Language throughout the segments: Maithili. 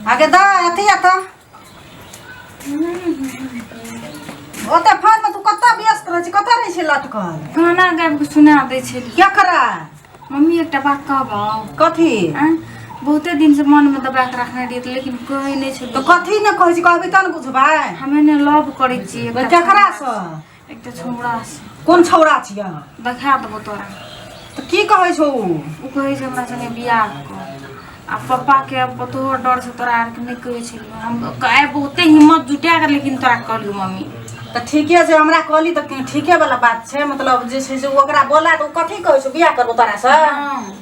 आगे द अथी आ त ओते फोन में तू कत व्यस्त रह छी कत रह छी लटकल गाना गाबि कऽ सुना दै छै केकरा मम्मी एकटा बात कहबौ कथी आँय? बहुते दिन से मन में दबा के रखने रहियै तऽ लेकिन कहै नहि छै तो कथी ने कहै छी कहबी त ने बुझबै हमे ने लव करै छियै एकटा केकरा सँ एक तऽ छौड़ा छै कोन छौड़ा छियै अहाँ देखा देबो तोरा तऽ की कहै छौ ओ ओ कहै छै हमरा सङ्गे बियाह कर आ पप्पाके अब तोहर डर से तोरा आरके नहि कहै छलियै हम आइ बहुते हिम्मत जुटा कऽ लेकिन तोरा कहलियौ मम्मी तऽ ठीके छै हमरा कहली तऽ ठीके वाला बात छै मतलब जे छै से ओकरा बोला तऽ ओ कथी कहै छौ बियाह करबो तोरा से हँ।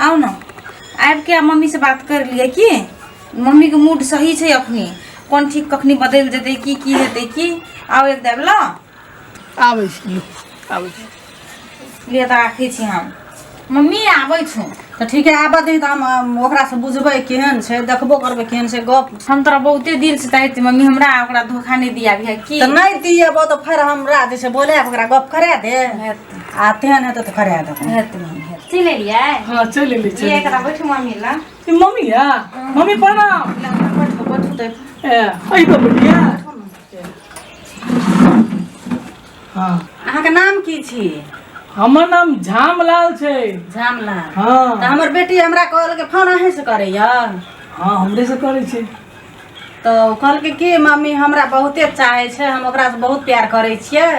आउ ने आबि कऽ मम्मी से बात कर लिए की मम्मी के मूड सही छै अखनी कोन ठीक कखनी बदलि जेतै की की हेतै की आउ एक देब ल आबै छी लो, आबै छी लिए तऽ राखै छी हम मम्मी आबै छौ तऽ ठीक है आबऽ दी तऽ हम अम, ओकरासँ बुझबै केहन छै देखबो करबै केहन छै गप हम तोरा बहुते दिल से चाहै छी मम्मी हमरा ओकरा धोखा नहि दिया भी है की तऽ नहि दिएबो तऽ फेर हमरा जे छै बोले ओकरा गप करा दे आ तेहन हेतै तऽ करा देबै हेतै मम्मी हेतै चलि एलियै हाँ चलि एली चलि ये एकरा बैठू मम्मी ला ई मम्मी या मम्मी प्रणाम ला, ला, बैठू बैठू तऽ ए अइ तो बढ़िया हाँ अहाँके नाम की छी हमर नाम झामलाल छै झामला तऽ हाँ हमर बेटी हमरा कहल के फोन अहीं से करैया हाँ हमरे से करै छै तऽ ओ कहलकै कि मम्मी हमरा बहुते चाहै छै हम ओकरासँ बहुत प्यार करै छियै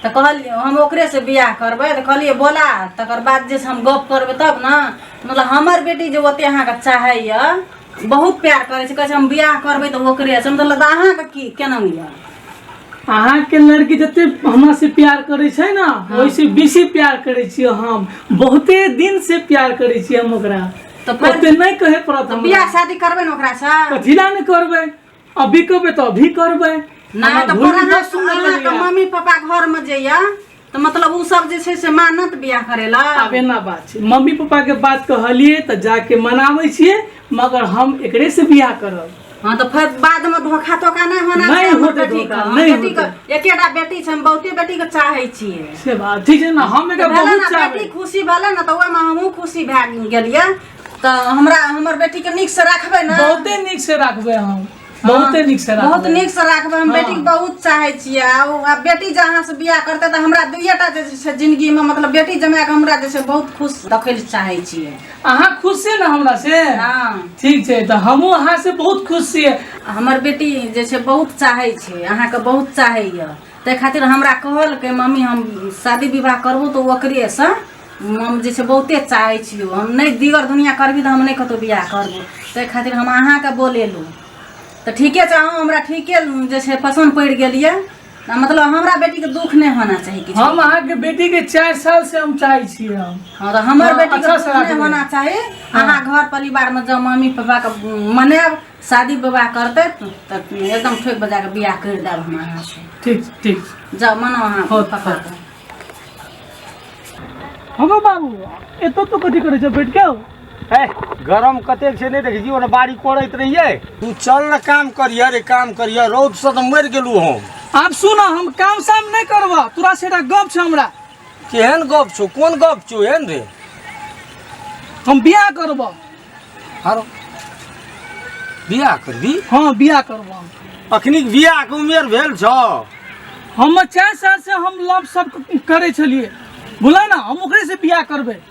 तऽ कहलियै हम ओकरेसँ बियाह करबै तऽ कहलियै बोला तकर बाद जे छै हम गप करबै तब ने मतलब हमर बेटी जे ओते अहाँके चाहैए बहुत प्यार करै छै कहै छै हम बियाह करबै तऽ ओकरेसँ मतलब तऽ अहाँके की केना यऽ अहाँके लड़की जते हमरा से प्यार करे छै ना वैसे बेसी प्यार करे छियै हम बहुते दिन से प्यार करे छियै हम ओकरा तो पर- कते नहीं कहे पड़त तो हमरा। बियाह शादी करबे ना ओकरा से कथिला ने करबै अभी कहबै तो अभी करबै ना हमरा तो भूल पर अहाँ जात सुन अहाँ के लगैया। मम्मी पापा घर में जइया तो मतलब उ सब जे छै से मानत बियाह करेला आब एना बात छै मम्मी पापा के बात कहलिए तऽ जाके मनाबै छियै मगर हम एकरे से बियाह करब हाँ तो फिर बाद में धोखा धोखा नहीं होना नहीं चाहिए होते बेटी धोखा, के। नहीं बेटी के होते। एकेटा बेटी छै हम बहुते बेटी के चाहे छियै से बात ठीक है ना हम एकरा भेलै बहुत ना चाहबे बेटी खुशी भेलै ना तऽ ओहिमे हमहूँ खुशी भए गेलियै तऽ हमरा हमर बेटीके नीकसँ राखबै ने बहुते नीक से रखबे हम बहुते नीक से रखबे बहुत नीक से राखबै हम हाँ। बेटी के बहुत चाहे छियै आ ओ- आ बेटी जहाँ से बियाह करतै तऽ हमरा दुइएटा जे छै जिन्दगीमे मतलब बेटी जमाए के हमरा जे छै बहुत खुश देखै लए चाहे छियै अहाँ खुश छियै ने हमरा से हाँ ठीक छै तऽ हमहूँ अहाँ से बहुत खुश छियै हमर बेटी जे छै बहुत चाहै छै अहाँके बहुत चाहैए ताहि खातिर हमरा कहलकै मम्मी हम शादी विवाह करबो तऽ ओकरेसँ हम जे छै बहुते चाहै छियौ हम नहि दीगर दुनिया करबी तऽ हम नहि कतहु बियाह करबो ताहि खातिर हम अहाँके बोलेलहुँ तऽ ठीके छै अहाँ हमरा ठीके जे छै पसन्द पड़ि गेल यए ना मतलब हमरा बेटी के दुख नहीं होना चाहिए किछु हम अहाँ के बेटी के चार साल से हम चाहे छी हम हाँ तो हमर हाँ, बेटी के अच्छा दुख से राखबै। नहीं होना चाहिए अहाँ घर परिवार में जब मम्मी पापा के मनाब शादी विवाह करते त एकदम ठोक बजा के बियाह कर देब हम अहाँ से ठीक ठीक जाओ मनाओ अहाँ हाँ, पापा हाँ। के हमर बाबू एतो तो कथी करे छै बैठ के ए गरम कतेक छै नहि देखै छी ओना बाड़ी कोड़ैत रहियै तू चल ने काम करिह रे काम करिह रौदसँ तऽ मरि गेलू हम आब सुन हम काम साम नहि करबह तोरा से एकटा गप छै हमरा केहन गप छौ कोन गप छौ एहन रे हम बियाह करबह आरो बियाह करबी हँ बियाह करबह हम। अखनी बियाहके उमेर भेल छौ हम चारि साल से हम लव सब करै छलियै बुला ना हम ओकरे से बियाह करबै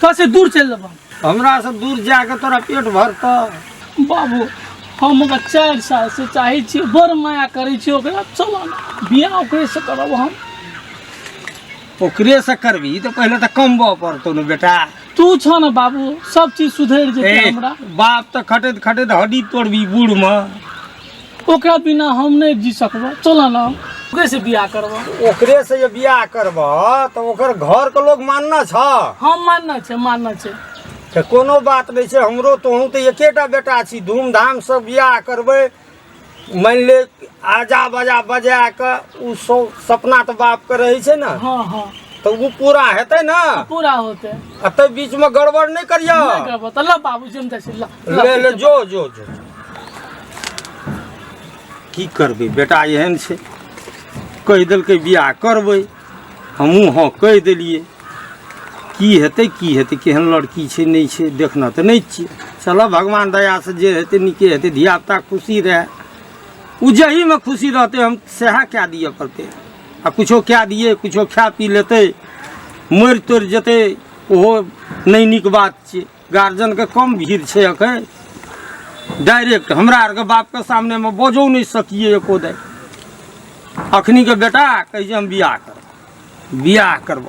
तो से दूर चल जब हमरा से दूर जाके तोरा पेट भरत बाबू हम ओकरा चारि साल से चाहे छी बड़ माया करे छी ओकरा चल बियाह ओकरे से करब हम ओकरे से करबी तो पहले तो कमबऽ पड़तौ ने बेटा तू छ ने बाबू सब चीज सुधर जेतै ए, हमरा बाप तो खटैत खटैत हड्डी तोड़बी बूढ़ में ओकरा बिना हम नहीं जी सकबो चल ना ओकरे से बियाह करबो ओकरे से जे बियाह करब तऽ ओकर घर के लोग मानना छ हम मानना छे मानना छे तऽ कोनो बात नहि छै हमरो तोहूँ तऽ एकेटा बेटा छी धूमधाम से बियाह करबै मानि ले आजा बजा बजा कऽ ओ सौ सपना तऽ बापके रहै छै ने हाँ हाँ तऽ ओ पूरा हेतै ने पूरा होते आ ताहि बीचमे गड़बड़ नहि करियह नहीं करबो तो ला बाबू जी हम जैसे ला ले ले जो जो जो की करबै बेटा एहन छै कहि देलकै बियाह करबै हमहूँ हँ कहि देलियै की हेतै की हेतै केहन लड़की छै नहि छै देखना तऽ नहि छियै चलऽ भगवान दयासँ जे हेतै नीके हेतै धियापुता खुशी रहए ओ जहीमे खुशी रहतै हम सएह कए दिअ पड़तै आ किछो कए दियै किछो खा पी लेतै मरि तरि जेतै ओहो नहि नीक बात छियै गार्जियन के कम भीड़ छै अखन डायरेक्ट हमरा आर के बाप के सामने में बजो नहीं सकिए एको दे अखनी के बेटा कहिए हम बियाह करब बियाह करब